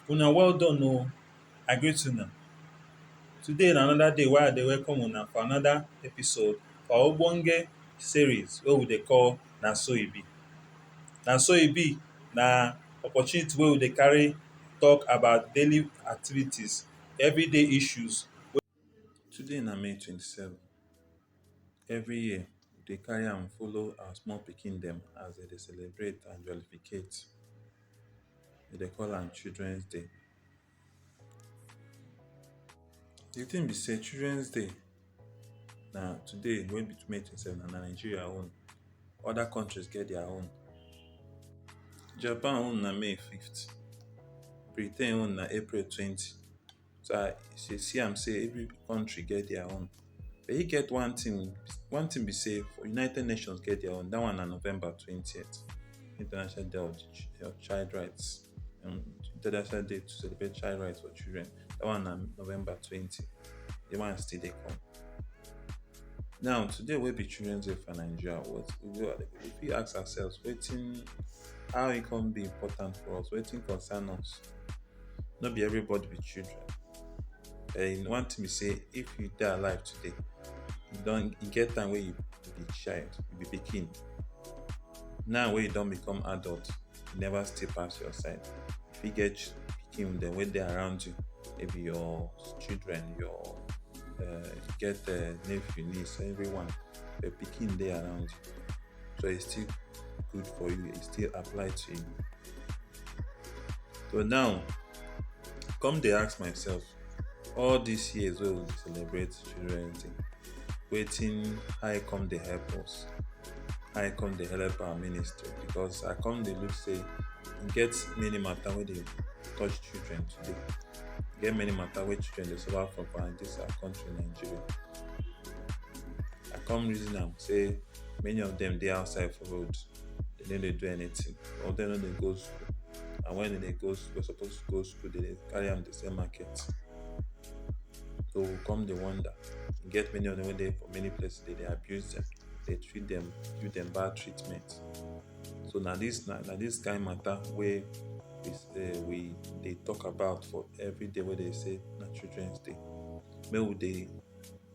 Una well done o, I greet una. Today na another day wey I dey welcome una for another episode for our ogbonge series wey we dey call Na So E Be. Na So E Be na opportunity wey we dey carry talk about daily activities Everyday issues wey Today na May twenty seven, every year we dey carry am follow our small pikin dem as dem dey celebrate and jollificate. We dey call am children's day. Di tin be sey children's day na today wey be may twenty seven na Nigeria own other countries get their own Japan own na may fifth Britain own na April twenty so I see am sey every country get their own but e get one thing one thing be sey for United Nations get their own dat one na November twenty international day of child right. um, International Day to celebrate child rights for children. That one na November 20. The one still dey come. Now today wey be Children's Day for Nigeria, what we go we fit ask ourselves wetin how e come dey important for us, wetin concern us. No be everybody be children. And one thing be say if you dey alive today, you don e get time wey you be child, you be pikin. Now wey you don become adult, never stay past your side if you get picking them when they're around you maybe your children your uh, get uh, nephew niece everyone the picking they around you so it's still good for you it still apply to you so now come they ask myself all these years we will celebrate children thing wetin how e come dey help us how e come dey help our ministry because i come dey look say e get many matter wey dey touch children today e get many matter wey children dey suffer for for this our country nigeria i come reason am say many of them dey outside for road dem no dey do anything some of them no dey go school and when dem dey go school suppose go school dem dey carry am dey sell market So we come dey wonder. E get many of dem wey dey for many places, dem dey abuse dem, dey treat dem, give dem bad treatment. So na dis na na dis kain matter wey is um we dey talk about for everyday wey dey say na Children's Day. Make we dey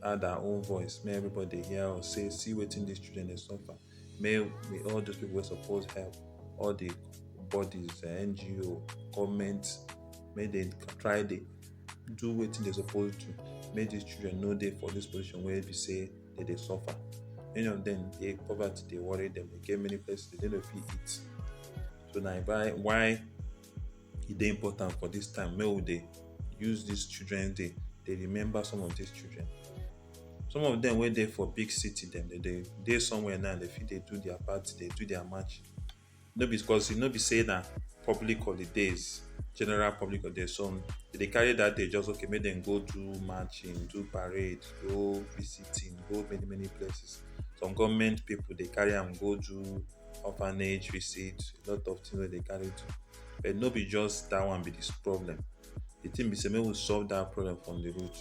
add our own voice, make everybody dey hear us say see wetin dis children dey suffer. may may all those people wey suppose help all the bodies eh, ngo government may they try dey do wetin they suppose do make these children no dey for this position wey be say they dey suffer many of them dey poverty dey worry them dey get many places they no fit eat so na why why e dey important for this time make we dey use this children day dey remember some of these children some of them wey dey for big city dem dey dey dey somewhere now dey fit dey do their party dey do their match no be because e no be say na public holidays general public holidays some dey dey carry that day just okay make dem go do matching do parade go visiting go many many places some government people dey carry am go do orphanage visit a lot of things wey dey carry do But no be just that one be this problem. The thing be say make we solve that problem from the root.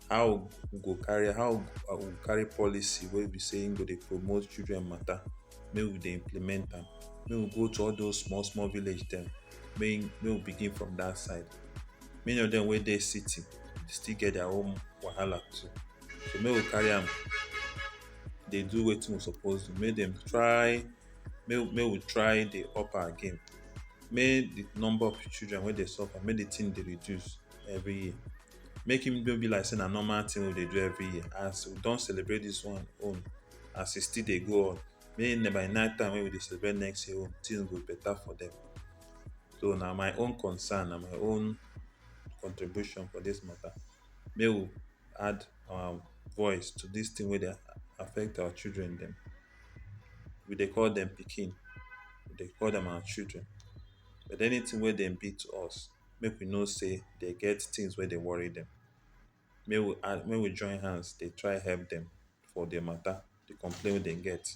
How we go carry how we go carry policy wey be say im go dey promote children matter make we dey implement am. Make we go to all those small small village dem make make we begin from that side. Many of dem wey dey city still get their own wahala too. So make we carry am dey do wetin we suppose do. Make dem try make make we try dey up our game make the number of children wey dey suffer make the thing dey reduce every year make him no be like say na normal thing we dey do every year as we don celebrate this one own as e still dey go on may na by night time wey we dey celebrate next year own things go better for them so na my own concern na my own contribution for this matter make we add our voice to this thing wey dey affect our children dem. we dey call dem pikin, we dey call dem our children. But anything wey dem be to us, make we know sey dem get things wey dey worry dem. Make we add make we join hands dey try help dem for their matter, de complain wey dem get.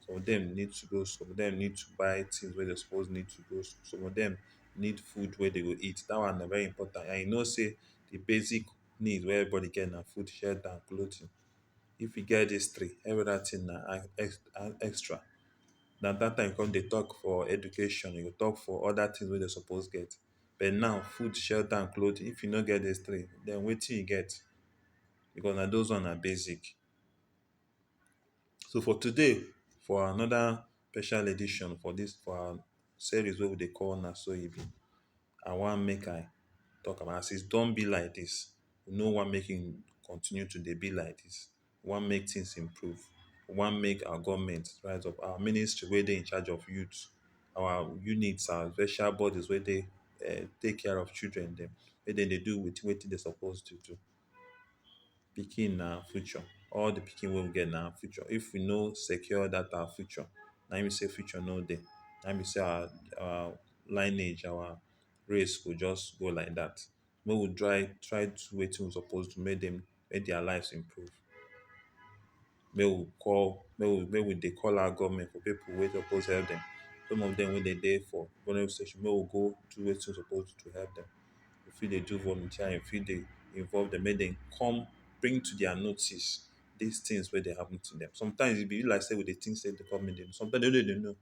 Some of dem need to go school, some of dem need to buy things wey dem suppose need to go school, some of dem need food wey dem go eat. Dat one na very important and you know sey de basic need wey everybody get na food, shelter and clothing. if you get dis three every other thing na extra na dat time you come dey talk for education you go talk for other things wey dem suppose get but now food, shelter and clothing if you no get dis three den wetin you get because na those ones na basic so for today for another special edition for dis for our series wey we dey call na so e be I want make I talk am as e don be like dis we no wan make e continue to dey be like dis, we wan make tins improve, we wan make our government rise up, our ministry wey dey in charge of youth, our unit, our special bodies wey dey um take care of children dem, make dem dey do wit wetin dem suppose to do. Pikin na future, all di pikin wey we get na future. If we no secure dat our future, na im be sey future no dey, na im be sey our our lineage, our race go just go like dat. make we try try do wetin we suppose do make dem make dia lives improve make we call make we make we dey call our government for pipu wey suppose help dem some of dem wey dey dey for polling station make we go do wetin we suppose do to help dem we fit dey do volunteering we fit dey involve dem make dem come bring to dia notice dis tins wey dey happen to dem sometimes e be like sey we dey tink sey de government dey know sometimes dem no dey know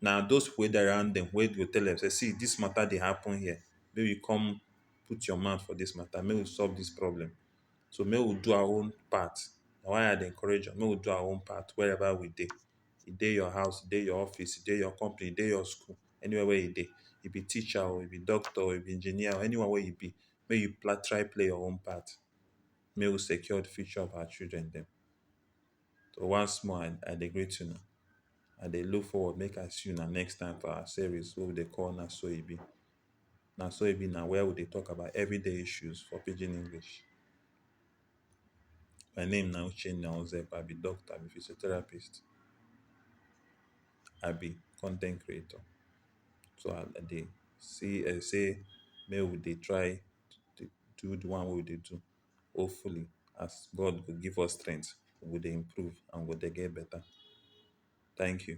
na those people wey dey around dem wey go tell dem say see this matter dey happen here make we come put your mouth for this matter make we solve this problem so make we do our own part na why I dey encourage una make we do our own part wherever we dey e dey your house e dey your office e dey your company e dey your school anywhere wey e dey you be teacher oo you be doctor oo you be engineer oo anyone wey you be make you try play your own part make we secure the future of our children dem. So once more, I, I dey greet una. I dey look forward make I see una next time for our series wey we dey call Na So E Be. Na So E Be na where we dey talk about everyday issues for pidgin English. My name na Uchenna Ozeb. I be doctor, I be physiotherapist, I be content creator. So I, I dey see I say make we dey try to do the one wey we dey do. hopefully as God go give us strength, we go dey improve and we go dey get better. Thank you.